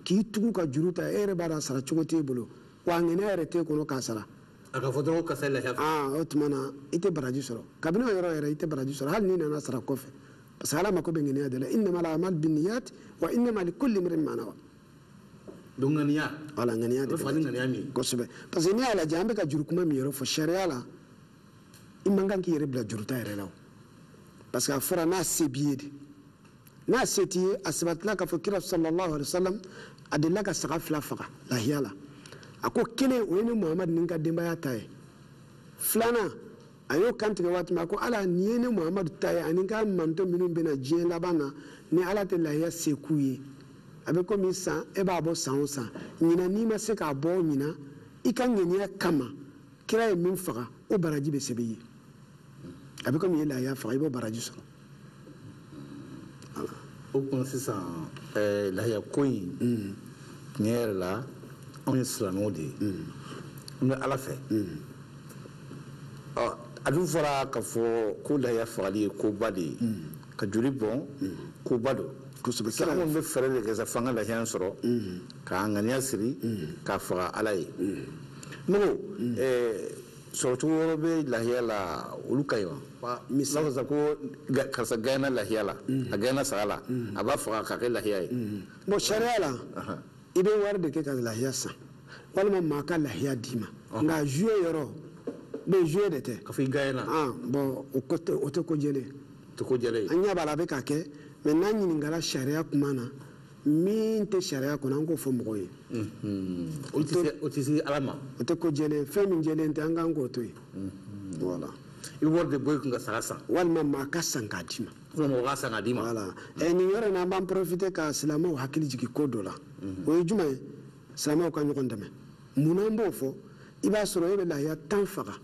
k'i tugu ka juru ta e yɛrɛ b'a dɔn a sara cogo t'e bolo wa ŋaniya yɛrɛ t'e kɔnɔ k'a sara a ka fɔ dɔrɔn ko karisa lahiya aa o tuma na i tɛ baraji sɔrɔ kabini o yɔrɔ yɛrɛ i tɛ baraji sɔrɔ hali n'i nana sara kɔfɛ parce que ala mako bɛ ŋaniya de la innama al amal binniyat wa innama likulli imrin ma nawa donc ŋaniya voilà ŋaniya de bɛ fani ŋaniya min kosɛbɛ parce que n'i y'a lajɛ an bɛ ka juru kuma min yɛrɛ fɔ sariya la i man kan k'i yɛrɛ bila juruta yɛrɛ la o parce que a fɔra n'a se b'i ye de n'a se t'i ye a sabatila k'a fɔ kira sallallahu alaihi wasallam a delila ka saga fila faga lahiya la a ko kelen o ye ne muhamadu ni n ka denbaya ta ye filanan a y'o kantigɛ waati min a ko ala nin ye ne muhamadu ta ye ani n ka mantɔn minnu bɛna diɲɛ laban na ni ala tɛ lahiya se k'u ye a bɛ komi san e b'a bɔ san o san ɲinan n'i ma se k'a bɔ ɲinan i ka ŋaniya kama kira ye min faga o baraji bɛ sɛbɛn i ye a bɛ komi e ye lahiya faga i b'o baraji sɔrɔ o tuma sisan eh, lahiya ko in mm. tiɲɛ yɛrɛ la anw ye silamɛw de ye mm. an bɛ ala fɛ mm. a dun fɔra ka fɔ ko lahiya fagali ye koba de ye ka joli bɔn koba don kosɛbɛ kira anw bɛ fɛɛrɛ de kɛ sa f'an ka lahiya sɔrɔ k'an ŋaniya siri k'a faga ala ye ne ko sɔrɔcogo wɛrɛ bɛ lahiya la olu ka ɲi wa misali sisan ko karisa gaɲɛna lahiya la a gaɲɛna saga la a b'a faga k'a kɛ lahiya ye bon sariya la i bɛ wari de kɛ ka lahiya san walima maa ka lahiya d'i ma nka jouer yɔrɔ bɛ jouer de tɛ ka fɔ i gaɲɛna bon o tɛ ko jɛlen tɛ ko jɛlen an ɲɛ b'a la a bɛ ka kɛ mais n'an ɲininkala sariya kuma na min tɛ sariya kɔnɔ an k'o fɔ mɔgɔw ye o tɛ se ala ma o tɛ ko jɛlen fɛn min jɛlen tɛ an kan k'o to yen voilà i bɛ wari de bɔ i kun ka saga san walima maa ka san k'a d'i ma mɔgɔ ka san k'a d'i ma voilà ɛ nin yɔrɔ in na an b'an profiter ka silamɛw hakili jigin ko dɔ la o ye jumɛn ye silamɛw ka ɲɔgɔn dɛmɛ mun na an b'o fɔ i b'a sɔrɔ e bɛ lahiya tan faga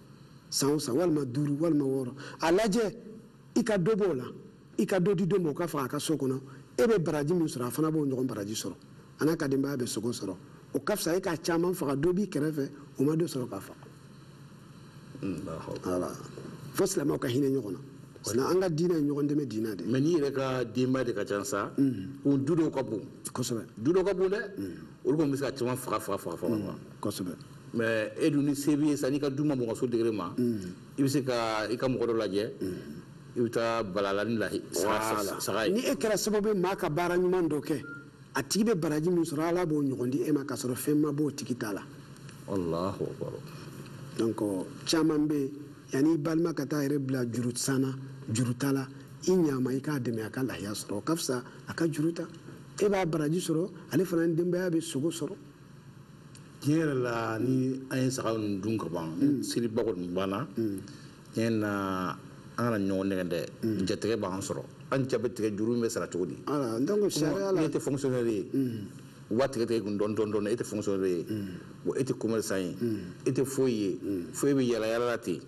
san o san walima duuru walima wɔɔrɔ a lajɛ i ka dɔ b'o la i ka dɔ di dɔ ma o ka faga a ka so kɔnɔ e bɛ baraji min sɔrɔ a fana b'o ɲɔgɔn baraji sɔrɔ a n'a ka denbaya bɛ sogo sɔrɔ o ka fisa e ka caman faga dɔ b'i kɛrɛfɛ o ma dɔ sɔrɔ k'a faga voilà fo silamɛw ka hinɛ ɲɔgɔn na voilà an ka diinɛ ye ɲɔgɔn dɛmɛ diinɛ de mais n'i yɛrɛ ka denbaya de ka ca sa o du dɔw ka bon kosɛbɛ du dɔw ka bon dɛ olu kɔni bɛ se ka caman faga faga faga faga kosɛbɛ mais e dun ni se b'i ye sa n'i ka du ma mɔgɔ so degere ma i bɛ se ka i ka mɔgɔ dɔ lajɛ i bɛ taa bala a la ni lahiya saga ye ni e kɛra sababu ye maa ka baara ɲuman dɔ kɛ a tigi bɛ baraji min sɔrɔ ala b'o ɲɔgɔn di e ma k'a sɔrɔ fɛn ma b'o tigi ta la alahu akbar donc caman bɛ yen yanni i balima ka taa a yɛrɛ bila juru san na juru ta la i ɲaama i k'a dɛmɛ a ka lahiya sɔrɔ o ka fisa a ka juru ta e b'a baraji sɔrɔ ale fana ni denbaya bɛ sogo sɔrɔ tiɲɛ yɛrɛ la ni an ye saga ninnu dun ka ban mm. seliba kɔni banna mm. tiɲɛ na an kana ɲɔgɔn nɛgɛn dɛ mm. jatigɛ b'an sɔrɔ an ja bɛ tigɛ juru bɛ sara cogo di e tɛ fonctionnaire ye u b'a tigɛ tigɛ kun dɔɔni dɔɔni dɔɔni e tɛ fonctionnaire ye wa e tɛ commerçant ye e tɛ foyi ye fo e bɛ yala yala la ten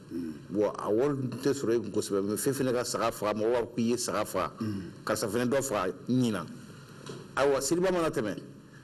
wa a wari tɛ sɔrɔ e kun kosɛbɛ mais f'e fɛnɛ ka saga faga mɔgɔ b'a fɔ k'i ye saga faga karisa fɛnɛ dɔ faga ɲinan ayiwa seliba mana tɛmɛ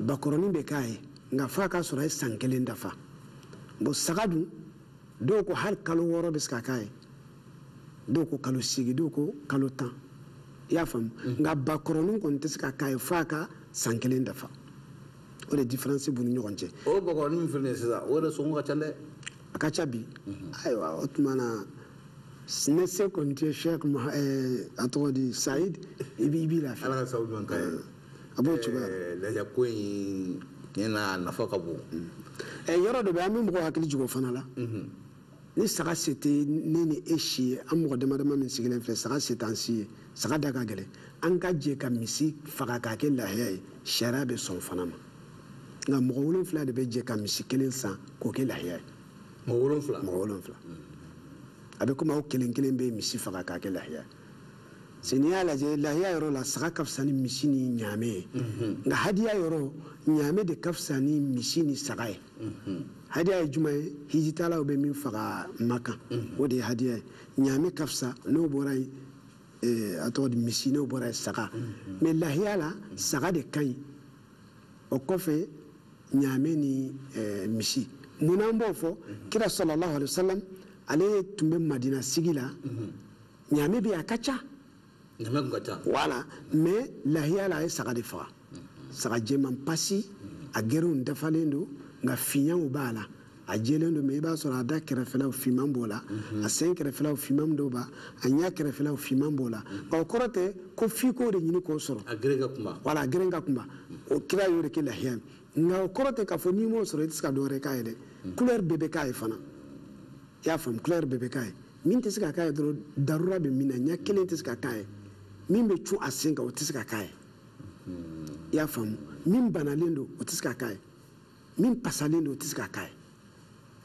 bakɔrɔnin bɛ k'a ye nka f'a k'a sɔrɔ a ye san kelen dafa bon saga dun dɔw ko hali kalo wɔɔrɔ bɛ se ka k'a ye dɔw ko kalo seegin dɔw ko kalo tan i y'a faamu mm-hmm. nka bakɔrɔnin kɔni tɛ se ka k'a ye f'a ka san kelen dafa o de diferansi b'u ni ɲɔgɔn cɛ o bakɔrɔnin min filɛ nin ye sisan o yɛrɛ sɔngɔ ka ca dɛ a ka ca bi mm-hmm. ayiwa o tuma na ne se kɔni tɛ sheikh eh, a tɔgɔ di sayid i b'i lafiya ala ka sababu ɲuman k'a ye a b'o cogoya lahiya ko in tiɲɛ na a nafa ka bon ɛ yɔrɔ dɔ bɛ an bɛ mɔgɔ hakili jigin o fana la ni saga se tɛ ne ni e si ye an mɔgɔ dama dama min sigilen filɛ saga se t'an si ye saga da ka gɛlɛn an ka jɛ ka misi faga k'a kɛ lahiya ye sariya bɛ sɔn o fana ma nka mɔgɔ wolonfila de bɛ jɛ ka misi kelen san k'o kɛ lahiya ye mɔgɔ wolonfila mɔgɔ wolonfila a bɛ komi aw kelen kelen bɛ misi faga k'a kɛ lahiya ye n'i y'a lajɛ lahiya yɔrɔ la saga ka fisa ni misi ni ɲaame ye mhm. nka hadiya yɔrɔ ɲaame de ka fisa ni misi ni saga ye mhm. hadiya ye jumɛn ye hijitalaw bɛ min faga makan mhm. o de ye hadiya ye ɲaame ka fisa n'o bɔra yen eh, a tɔgɔ di misi n'o bɔra yen saga mais lahiya la saga de ka ɲi o kɔfɛ ɲaame ni eh, misi munna an b'o fɔ kira sallallahu alaihi wa salam ale tun bɛ madina sigi la ɲaame bɛ a ka ca ɲaame tun ka ca voilà mais lahiya la a ye saga de faga saga jɛman pasi a gerew dafalen don nka fiɲɛw b'a la a jɛlen don mais i b'a sɔrɔ a da kɛrɛfɛlaw finman b'o la mhm. a sen kɛrɛfɛlaw finman dɔw b'a a ɲɛ kɛrɛfɛlaw finman b'o la mhm. o kɔrɔ tɛ ko f'i k'o de ɲini k'o sɔrɔ a gere ka kunba voilà a gere ka kunba o kira y'o de kɛ lahiya ye nka o kɔrɔ tɛ k'a fɔ n'i m'o sɔrɔ i tɛ se ka dɔ wɛrɛ k'a ye dɛ kulɛri mhm. bɛɛ bɛ k'a ye fana i y'a faamu kulɛri bɛɛ bɛ k'a ye min tɛ se ka k'a ye dɔrɔn darura bɛ min na ɲɛ kelen tɛ se ka k'a ye min bɛ cun a sen kan o tɛ se ka k'a ye i y'a faamu min banalen don o tɛ se ka k'a ye min pasalen don o tɛ se ka k'a ye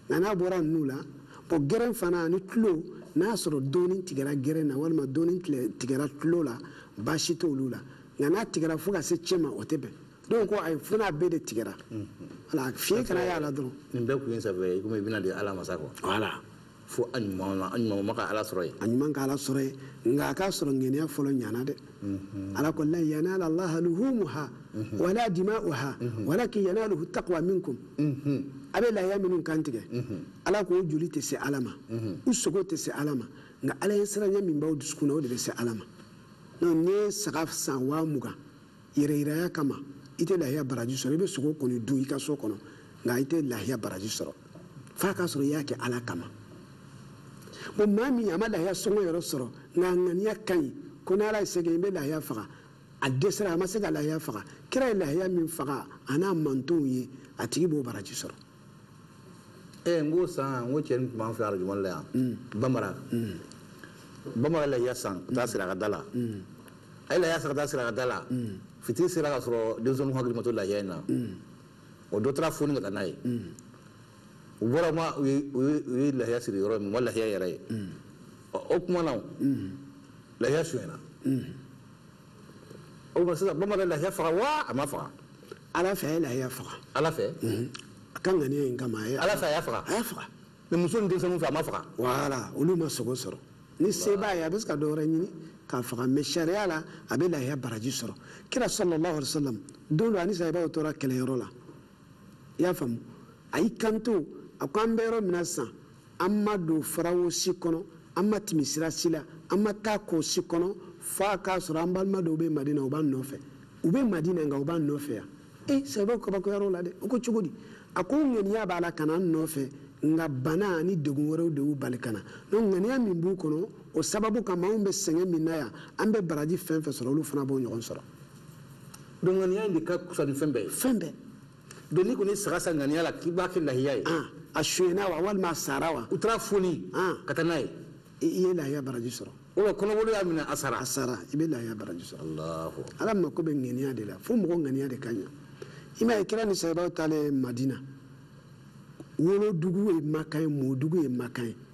nka n'a bɔra ninnu la bon gɛrɛn fana ani tulo n'a y'a sɔrɔ dɔɔni tigɛra gɛrɛn na walima dɔɔni tigɛra tulo la baasi t'olu la nka n'a tigɛra fo ka se cɛ ma o tɛ bɛn dɔw ko ayi fo n'a bɛɛ de tigɛra voilà fiɲɛ kana y'a la dɔrɔn nin bɛɛ kun ye sabu ye komi i bɛna di ala ma sa quoi voilà fo a ɲuman ma a ɲuman ma ka ala sɔrɔ ye a ɲuman ka ala sɔrɔ ye nka a k'a sɔrɔ ŋaniya fɔlɔ ɲana dɛ mhm. ala ko lan yanala allaha luhumuha mhm. wala dima'uha mhm. walakin yanaluhu taqwa minkum a bɛ lahiya minnu kan tigɛ ala k'o joli tɛ se ala ma u sogo tɛ se ala ma nka ala ɲɛsiranya min b'aw dusukun na o de bɛ se ala ma donc n'i ye saga san waa mugan yɛrɛyiraya kama i tɛ lahiya baraji sɔrɔ i bɛ sogo kɔni dun i ka so kɔnɔ nka i tɛ lahiya baraji sɔrɔ f'a k'a sɔrɔ i y'a kɛ ala kama bon maa min a ma lahiya sɔngɔ yɛrɛ sɔrɔ nka a ŋaniya ka ɲi ko n'ala ye se kɛ i bɛ lahiya faga a dɛsɛra a ma se ka lahiya faga kira ye lahiya min faga a n'a mantonw ye a tigi b'o baraji sɔrɔ ee n k'o san n ko cɛnin tun b'an fɛ arajo mali la yan bamara bamara ye lahiya san ka taa siri a ka da la a ye lahiya san ka taa siri a ka da la fitiri sera ka sɔrɔ denmisɛnninw hakili ma to lahiya in na o dɔ taara foni ka taa n'a ye u bɔra ma u ye- u ye- u ye lahiya siri yɔrɔ min u ma lahiya yɛrɛ ye ɔ, o kuma na o, lahiya sonyɛna o tuma sisan bamanan lahiya faga wa a ma faga ala fɛ a ye lahiya faga ala fɛ a ka ŋaniya in kama a ye ala fɛ a y'a faga a y'a faga mais muso ni denmisɛnninw fɛ a ma faga voilà olu ma sogo sɔrɔ ni se b'a ye a bɛ se ka dɔ wɛrɛ ɲini k'a faga mais sariya la a bɛ lahiya baraji sɔrɔ kira sallallahu alaihi wasallam don dɔ ani sahibaw tora kɛlɛyɔrɔ la i y'a faamu a y'i kanto a ko an bɛ yɔrɔ min na sisan an ma don farawo si kɔnɔ an ma timi sira si la an ma taa kɔ si kɔnɔ f'a k'a sɔrɔ an balima dɔw bɛ madina u b'an nɔfɛ u bɛ madina nka u b'an nɔfɛ yan e sahibaw kabakoyar'o la dɛ u ko cogo di a ko ŋaniya b'a la ka na an nɔfɛ nka bana ani degun wɛrɛw de y'u bali ka na donc ŋaniya min b'u kɔnɔ o sababu kama anw bɛ sɛgɛn min na yan an bɛ baraji fɛn fɛn sɔrɔ olu fana b'o ɲɔgɔn sɔrɔ donc ŋaniya in de ka fisa ni fɛn bɛɛ ye fɛn bɛɛ donc n'i kɔni saga san ŋaniya la k'i b'a kɛ lahiya ye a sonyɛna wa walima a sara wa u taara foni ka taa n'a ye i ye lahiya baraji sɔrɔ o la kɔnɔboli y'a minɛ a sara a sara i bɛ lahiya baraji sɔrɔ ala mako bɛ ŋaniya de la fo mɔgɔ ŋaniya de ka ɲa i m'a ye kira ni sahibaw taalen madina wolodugu ye makan ye mɔdugu ye makan ye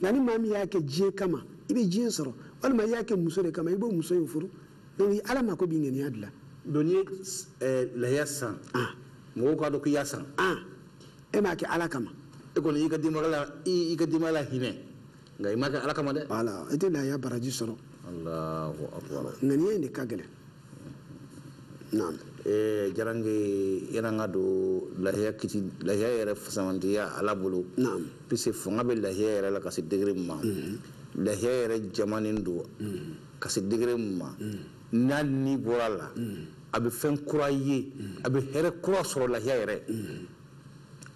nka ni maa min y'a kɛ diɲɛ kama i bɛ diɲɛ sɔrɔ walima i y'a kɛ muso de kama i b'o muso in furu donc ala mako b'i ŋaniya de la donc n'i ye eh, lahiya san ah. mɔgɔw k'a dɔn k'i y'a san ah. e m'a kɛ ala kama e kɔni y'i ka denbaya la i ka denbaya lahinɛ nka i m'a kɛ ala kama dɛ voilà i tɛ lahiya baraji sɔrɔ ŋaniya in de ka gɛlɛn diyara yɛlɛ k'a dɔn lahiya lahiya yɛrɛ fisamantiya ala bolo puisque fanga bɛ lahiya yɛrɛ la ka se degré min ma lahiya yɛrɛ jamanen don ka se degré min ma n'a ni bɔra a la a bɛ fɛn kura ye a bɛ hɛrɛ kura sɔrɔ lahiya yɛrɛ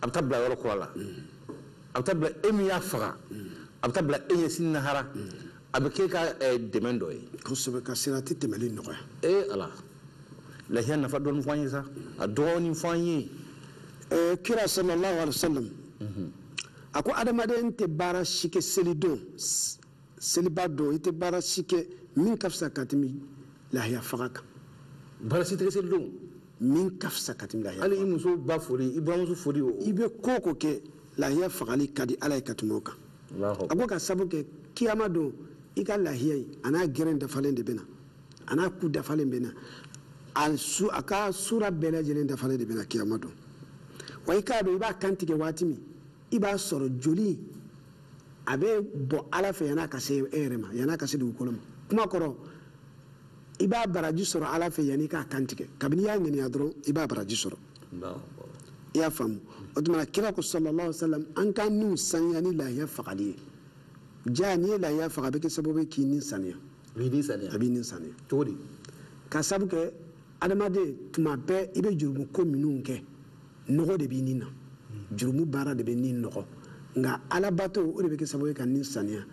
a bɛ taa bila yɔrɔ kura la a bɛ taa bila e min y'a faga a bɛ taa bila e ɲɛ sini lahara a bɛ k'e ka eh, dɛmɛ dɔ ye kosɛbɛ ka sirati tɛmɛli nɔgɔya ee eh, ala lahiya nafa dɔɔni fɔ an ye sa a dɔɔni fɔ an ye eh, kira sallallahu alaihi wasallam mhm. a ko adamaden tɛ baara si kɛ selidon seliba don i tɛ baara si kɛ min ka fisa ka tɛmɛ lahiya faga kan baara si tɛ kɛ selidon min ka fisa ka tɛmɛ lahiya hali i muso ba foli i buranmuso foli o i bɛ ko o ko kɛ lahiya fagali ka di ala ye ka tɛmɛ o kan a ko ka sabu kɛ kiyama don i ka lahiya in a n'a gere dafalen de bɛ na a n'a ku dafalen bɛ na a su a ka sura bɛɛ lajɛlen dafalen de bɛ na kiyama don wa i k'a dɔn i b'a kan tigɛ waati min i b'a sɔrɔ joli a bɛ bɔ ala fɛ yan'a ka se e yɛrɛ ma yan'a ka se dugukolo ma kuma kɔrɔ i b'a baraji sɔrɔ ala fɛ yan'i k'a kantigɛ kabini i y'a ŋaniya dɔrɔn i b'a baraji sɔrɔ i y'a faamu o tuma na kira ko sallallahu alaihi wasallam an ka niw saniya ni lahiya fagali ye jaa n'i ye lahiya faga a bɛ kɛ sababu ye k'i ni saniya a b'i ni saniya a b'i ni saniya cogo di ka sabu kɛ adamaden tuma bɛɛ i bɛ jurumu ko minnu kɛ nɔgɔ de b'i ni na jurumu baara de bɛ ni nɔgɔ nka alabato o de bɛ kɛ sababu ye ka ni saniya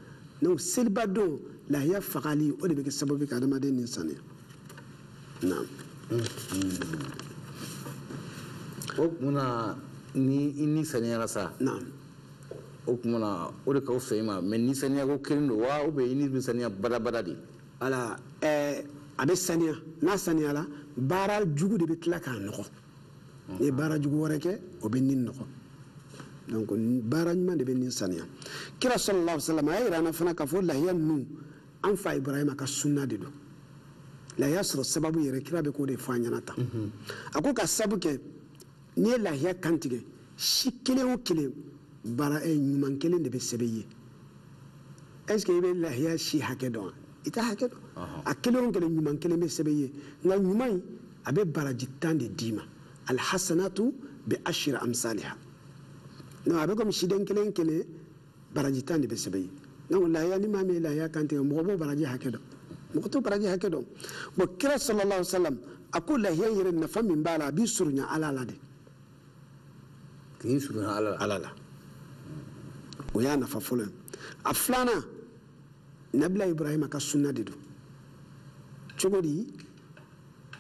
donc seliba don lahiya fagali o de bɛ kɛ sababu ye ka adamaden ni saniya naam o tuma na ni i ni saniyara sa naam o tuma na o de ka fisa i ma mais ni saniya ko kelen don wa ou bien i ni bɛ saniya badabada de voilà ɛɛ a bɛ saniya n'a saniyala baara jugu de bɛ tila k'a nɔgɔ n'i ye baara jugu wɛrɛ kɛ o bɛ ni nɔgɔ donc baara ɲuman de bɛ ni saniya kira sallallahu alaihi wasallam a y'a yira an na fana k'a fɔ lahiya ninnu an fa ibrahima ka sunna de don lahiya sɔrɔ sababu yɛrɛ kira bɛ k'o de fɔ an ɲɛna tan a ko ka sabu kɛ n'i ye lahiya kantigɛ si kelen o kelen baara eh, ɲuman kelen de bɛ sɛbɛn i ye est ce que i bɛ lahiya si hakɛ dɔn wa i t'a hakɛ dɔn a kelen o kelen ɲuman kelen bɛ sɛbɛn i ye nka ɲuman in a bɛ baraji tan de d'i ma alhasanatu bi ashri amsaliha non a bɛ komi siden kelen kelen baraji tan de bɛ sɛbɛn i ye donc lahiya ni maa min ye lahiya kan tigɛ mɔgɔ b'o baraji hakɛ dɔn mɔgɔ t'o baraji hakɛ dɔn bon kira sallallahu sallam a ko lahiya yɛrɛ nafa min b'a la a b'i surunya ala la de k'i surunya ala la ala la o y'a nafa fɔlɔ ye a filanan nabila ibrahima ka sunna de don cogo di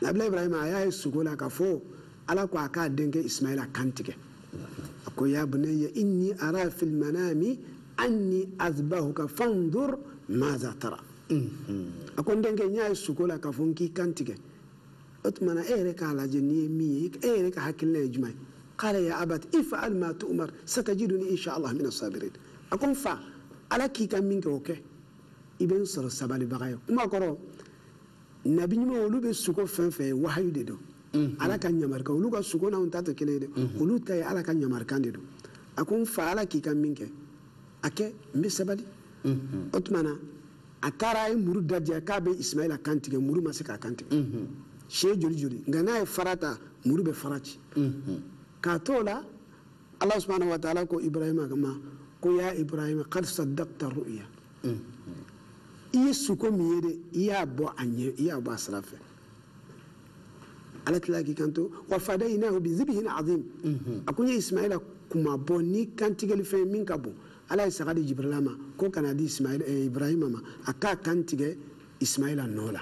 nabila ibrahima a y'a ye suko la k'a fɔ ala ko a k'a denkɛ ismaila kan tigɛ a ko ya bunayya inni ara fil manami anni azbahuka fanzur maza tara a ko n denkɛ n y'a ye suko la k'a fɔ n k'i kan tigɛ o tuma na e yɛrɛ k'a lajɛ n'i ye min ye e yɛrɛ ka hakilina ye jumɛn ye kala ya abati if'al ma tu'umar satajiduni insha allah mina sabirin a ko n fa ala k'i ka min kɛ o kɛ i bɛ n sɔrɔ sabalibaga ye kuma kɔrɔ nabi ɲuman olu bɛ suko fɛn fɛn ye wahayu de don mhm. ala ka ɲamarikan olu ka suko n'anw ta tɛ kelen ye dɛ mhm. olu ta ye ala ka ɲamarikan de don a ko n fa ala k'i ka min kɛ a kɛ n bɛ sabali mhm. o tuma na a taara a ye muru dadiya k'a bɛ isimayila kan tigɛ muru ma se k'a kan tigɛ siɲɛ joli joli nka n'a ye fara ta muru bɛ fara ci k'a to o la allah subhanahu wa taala ko ibrahima ma ko ya ibrahima kad sadakta ru'ya mm. i ye suko min ye de i y'a bɔ a ɲɛ i y'a bɔ a sira fɛ ala tilala k'i kanto wa fadayinahu bi zibihin azim mm-hmm. a ko n ye ismaila kunmabɔ ni kantigɛli fɛn min ka bon ala ye saga di jibrila ma ko ka n'a di eh, ibrahima ma a k'a kan tigɛ ismaila nɔ la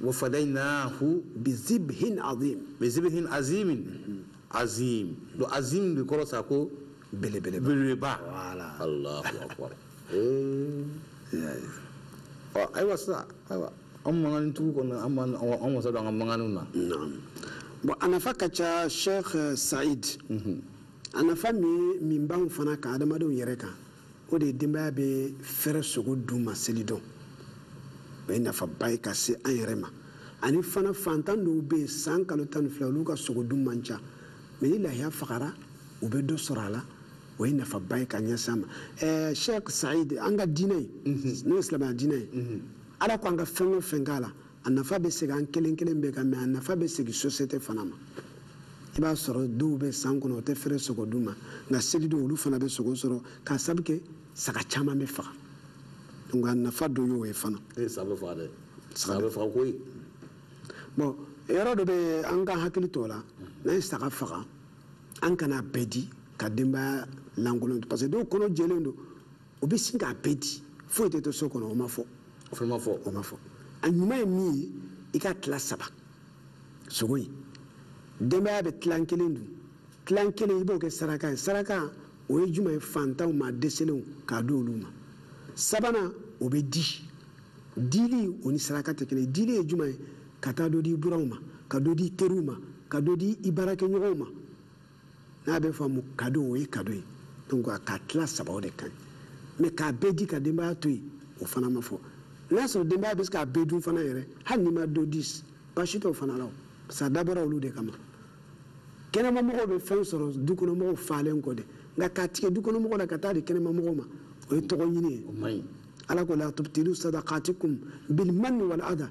wafadainahu bizibhin azim bizibhin azimin azim do azim de kɔrɔ sa ko belebele belebeleba voilà allahu akbar eh ɔ ayiwa sisan ayiwa an mankan tugu kɔnɔ an man an wasa don an ka mankanw na bon a nafa ka ca sheikh said a nafa min ye min b'an fana kan adamadenw yɛrɛ kan o de ye denbaya bɛ fɛrɛ sogo dun ma selidon o ye nafaba ye ka se an yɛrɛ ma ani fana fantan dɔw bɛ yen san kalo tan ni fila olu ka sogo dun man ca mais ni lahiya fagara u bɛ dɔ sɔrɔ a la o ye nafaba ye ka ɲɛsin an ma ɛɛ sheikh said an ka diinɛ ye mhm. n'o ye silamɛya diinɛ ye mhm. ala ko an ka fɛn o fɛn k'a la a nafa bɛ segin an kelen kelen bɛɛ kan mais a nafa bɛ segin société fana ma i b'a sɔrɔ dɔw bɛ san kɔnɔ o tɛ fɛrɛ sogo dun ma nka seli don olu fana bɛ sogo sɔrɔ k'a sabu kɛ saga caman bɛ faga donc a nafa dɔ y'o ye fana e saga bɛ faga dɛ saga bɛ faga koyi bon yɔrɔ dɔ bɛ an ka hakili to o la n'an ye saga faga an kana bɛɛ di ka denbaya lankolon to parce que dɔw kɔnɔ jɛlen don o bɛ sin k'a bɛɛ di foyi tɛ to so kɔnɔ o ma fɔ o fana ma fɔ o ma fɔ a ɲuman ye min ye i k'a tila saba sogo in denbaya bɛ tilan kelen dun tilan kelen i b'o kɛ saraka ye saraka o ye jumɛn ye fantanw ma dɛsɛlenw k'a di olu ma sabanan o bɛ di dili o ni saraka tɛ kelen dili ye jumɛn ye ka taa dɔ di i buranw ma ka dɔ di i teriw ma ka dɔ di i baarakɛɲɔgɔnw ma n'a bɛ fɔ a ma kado o ye kado ye donc a k'a tila saba o de ka ɲi mais k'a bɛɛ di ka denbaya to yen o fana ma fɔ n'a sɔrɔ denbaya bɛ se k'a bɛɛ dun fana yɛrɛ hali n'i ma dɔ di baasi t'o fana la parce que a dabɔra olu de kama kɛnɛmamɔgɔw bɛ fɛn sɔrɔ dukɔnɔmɔgɔw falen kɔ de nka k'a tigɛ dukɔnɔmɔgɔw la ka taa di kɛnɛmamɔgɔw ma o ye tɔgɔ ɲini ye ala ko la tubtilu sadaqatikum bil manni wal adha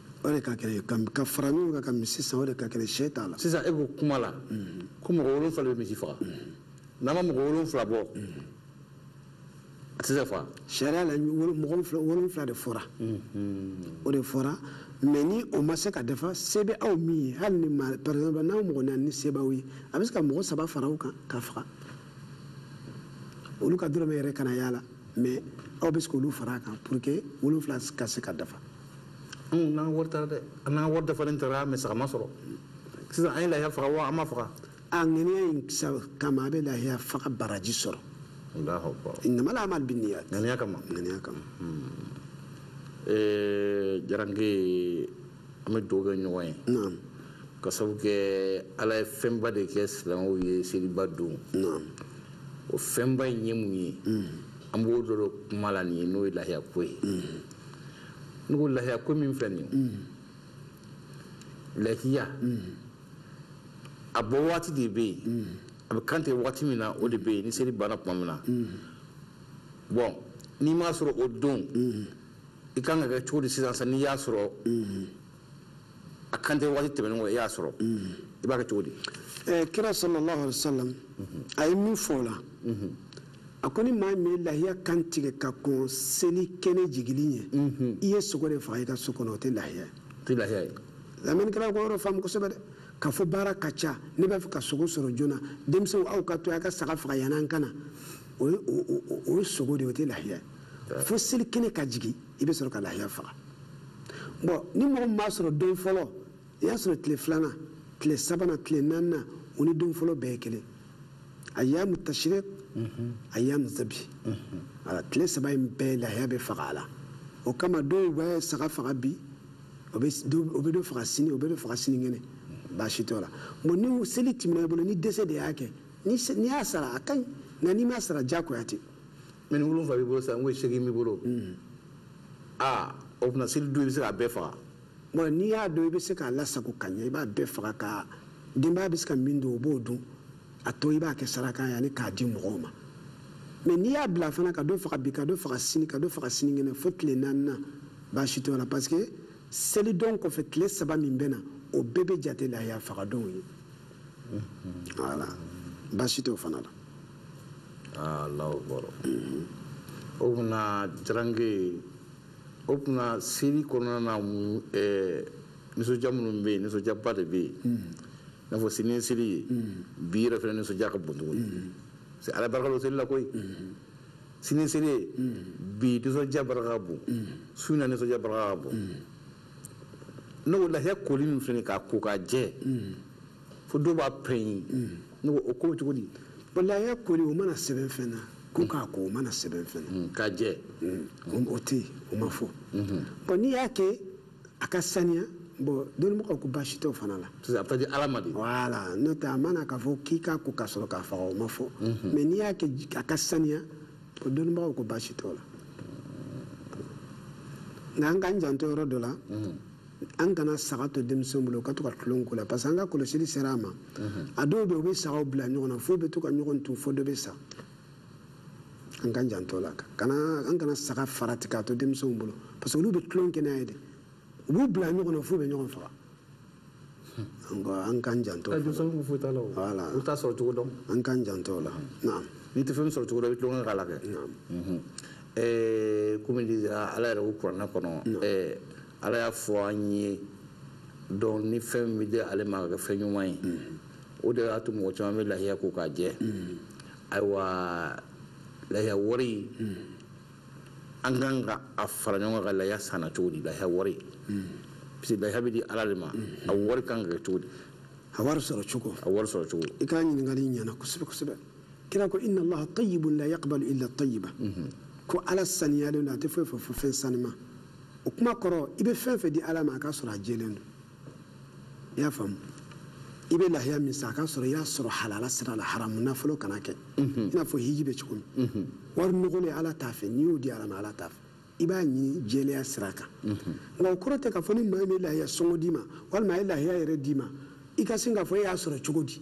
o de ka kɛnɛ ka ka fara ɲɔgɔn kan ka misi san o de ka kɛnɛ sɛ t'a la sisan e ko kuma la ko mɔgɔ wolonfila bɛ misi faga n'a ma mɔgɔ wolonfila bɔ a tɛ se ka faga sariya la mɔgɔ wolonfila de fɔra o de fɔra mais ni o ma se ka dafa se bɛ aw min ye hali ni ma par exemple n'aw mɔgɔ naani ni se b'aw ye a bɛ se ka mɔgɔ saba fara aw kan k'a faga olu ka dɔrɔmɛ yɛrɛ kana y'a la mais aw bɛ se k'olu fara a kan pour que wolonfila ka se ka dafa anw n'an wari taara dɛ an n'an wari dafalen taara mais saga ma sɔrɔ sisan an ye lahiya faga wa an m'a faga a ŋaniya in kama a bɛ lahiya faga baraji sɔrɔ innamal a'malu binniyat ŋaniya kama ŋaniya kama jaranke an bɛ dugawu kɛ ɲɔgɔn ye k'a sabu kɛ ala ye fɛnba de kɛ silamɛw ye seliba don o fɛnba in ye mun ye an b'o dɔrɔn kuma la nin ye n'o ye lahiya ko ye ne ko lahiya ko min filɛ nin ye lahiya a bɔ waati de bɛ yen a bɛ kan tigɛ waati min na o de bɛ yen ni seli banna tuma min na bon n'i m'a sɔrɔ o don i kan ka kɛ cogo di sisan n'i y'a sɔrɔ a kan tigɛ waati tɛmɛnen kɔ e y'a sɔrɔ i b'a kɛ cogo di eh, kira sallallahu alaihi wasallam a ye min fɔ o la a ko ni maa min ye lahiya kan tigɛ ka kɔn seli kɛnɛ jigili ɲɛ i ye sogo de faga i ka so kɔnɔ o tɛ lahiya ye o tɛ lahiya ye lamɛnnikɛlaw k'o yɔrɔ faamu kosɛbɛ dɛ k'a fɔ baara ka ca ne b'a fɛ ka sogo sɔrɔ joona denmisɛnw aw ka to a ka saga faga yan'an ka na o ye sogo de ye o tɛ lahiya ye fo seli kɛnɛ ka jigin i bɛ sɔrɔ ka lahiya faga bon ni mɔgɔ min m'a sɔrɔ don fɔlɔ i y'a sɔrɔ tile filanan tile sabanan tile naaninan o ni don fɔlɔ bɛɛ ye kelen ayyamu tashriq ayyamu zabi ala tile saba in bɛɛ lahiya bɛ faga a la o kama dɔw bɛ saga faga bi o bɛ dɔ faga sini o bɛ dɔ faga sinikɛnɛ baasi t'o la bon ni seli tɛmɛna i bolo ni dɛsɛ de y'a kɛ n'i y'a sara a ka ɲi nka n'i m'a sara diyagoya tɛ mais ni wolonfila b'i bolo sa n ko segin b'i bolo aa o tuma selidon i bɛ se k'a bɛɛ faga bon n'i y'a dɔn i bɛ se k'a lasago ka ɲɛ i b'a bɛɛ faga ka denbaya bɛ se ka min dun o b'o dun a tɔ i b'a kɛ saraka ye ani k'a di mɔgɔw ma mais n'i y'a bila fana ka dɔ faga bi ka dɔ faga sini ka dɔ faga sinikɛnɛ fo tile naaninan baasi t'o la parce que selidon kɔfɛ tile saba min bɛ na o bɛɛ bɛ jate lahiya fagadonw ye voilà baasi tɛ o fana la ah, Allahu akbar o tuma jarange o tuma seli kɔnɔna na eh, nisɔndiya minnu bɛ yen nisɔndiyaba de bɛ yen hmm. i n'a fɔ sini ye seli ye hmm. bi yɛrɛ fana nisɔndiya ka bon tuguni hmm. parce que ala barika don seli la koyi sini ye seli ye bi nisɔndiya barika ka bon su in na nisɔndiya barika ka bon n ko lahiya koli min fana k'a ko k'a jɛ fo dɔw b'a pɛnyi ne ko o ko bɛ cogo di bon lahiya koli o ma na sɛbɛn fɛn na ko k'a ko o ma na sɛbɛn fɛn na mm, k'a jɛ mm, o tɛ yen o ma fɔ mm-hmm. bon n'i y'a kɛ a ka saniya bon dɔnnibagaw ko baasi tɛ o fana la sisan a bɛ taa di ala ma de voilà n'o tɛ a ma na k'a fɔ k'i k'a ko ka sɔrɔ k'a faga o ma fɔ mais mm-hmm. n'i y'a kɛ a ka saniya o dɔnnibagaw ko baasi t'o la nka an k'an janto yɔrɔ dɔ la an kana saga to denmisɛnw bolo u ka to ka tulon k'o la parce que an ka kɔlɔsili sera a ma a dɔw bɛ yen u bɛ sagaw bila ɲɔgɔn na f'u bɛ to ka ɲɔgɔn tu fo dɔ bɛ sa an k'an janto la kana an kana saga farati k'a to denmisɛnw bolo parce que olu bɛ tulon kɛ n'a ye de u b'u bila ɲɔgɔn na f'u bɛ ɲɔgɔn faga an k'an janto denmisɛnnin foyi t'a la voilà u t'a sɔrɔ cogo dɔn an k'an janto la naam n'i tɛ fɛn sɔrɔ cogo dɔn i bɛ tulonkɛ k'a la kɛ naam komi ala yɛrɛ ko kuranɛ kɔnɔ ala y'a fɔ an ye donc ni fɛn min bɛ di ale ma ka kɛ fɛn ɲuman ye o de y'a to mɔgɔ caman bɛ lahiya ko k'a jɛ ayiwa lahiya wari an ka kan ka a fara ɲɔgɔn kan ka laya san cogo di laya wari parce que laya bɛ di ala de ma a wari kan ka kɛ cogo di a wari sɔrɔ cogo a wari sɔrɔ cogo i ka ɲininkali ɲɛna kosɛbɛ kosɛbɛ kira ko inna allaha tayyibun la yaqbalu illa tayyiba ko ala saniyalen don a tɛ foyi fɛ fo fɛn sanima o kuma kɔrɔ i bɛ fɛn fɛn di ala ma a k'a sɔrɔ a jɛlen don i y'a faamu i bɛ lahiya min san a k'a sɔrɔ i y'a sɔrɔ halala sira la haramu nafolo kana kɛ mhm. i n'a fɔ hiji bɛ cogo min mhm. wari nɔgɔlen ala t'a fɛ n'i y'o di ala ma ala t'a fɛ i b'a ɲini jɛlenya sira kan mhm. nka o kɔrɔ tɛ k'a fɔ ni maa min bɛ lahiya sɔngɔ d'i ma walima a ye lahiya yɛrɛ d'i ma i ka sin k'a fɔ e y'a sɔrɔ cogo di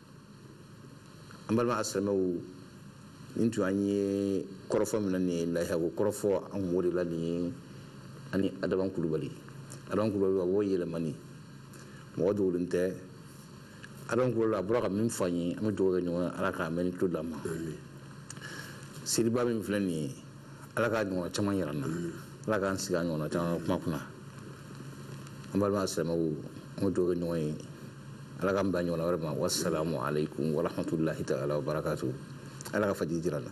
an balima asilamɛw nin tun an ye kɔrɔfɔ min na nin ye lahiyako kɔrɔfɔ an kun b'o de la nin ye ani adama kulubali adama kulubali a b'o yɛlɛmani mɔgɔ dogolen tɛ adama kulubali a bɔra ka min fɔ an ye an bɛ dugawu kɛ ɲɔgɔn ala ka mɛnni tulo d'an ma seliba min filɛ nin ye ala k'a ɲɔgɔnna caman yira an na ala k'an sigi a ɲɔgɔnna caman kuma kunna an balima asilamɛw an bɛ dugawu kɛ ɲɔgɔn ye ala k'an bɛn a ɲɔgɔnna wɛrɛ ma wasalamu aleykum warahmatulahi taala wabarakatu ala ka fajiri jira an na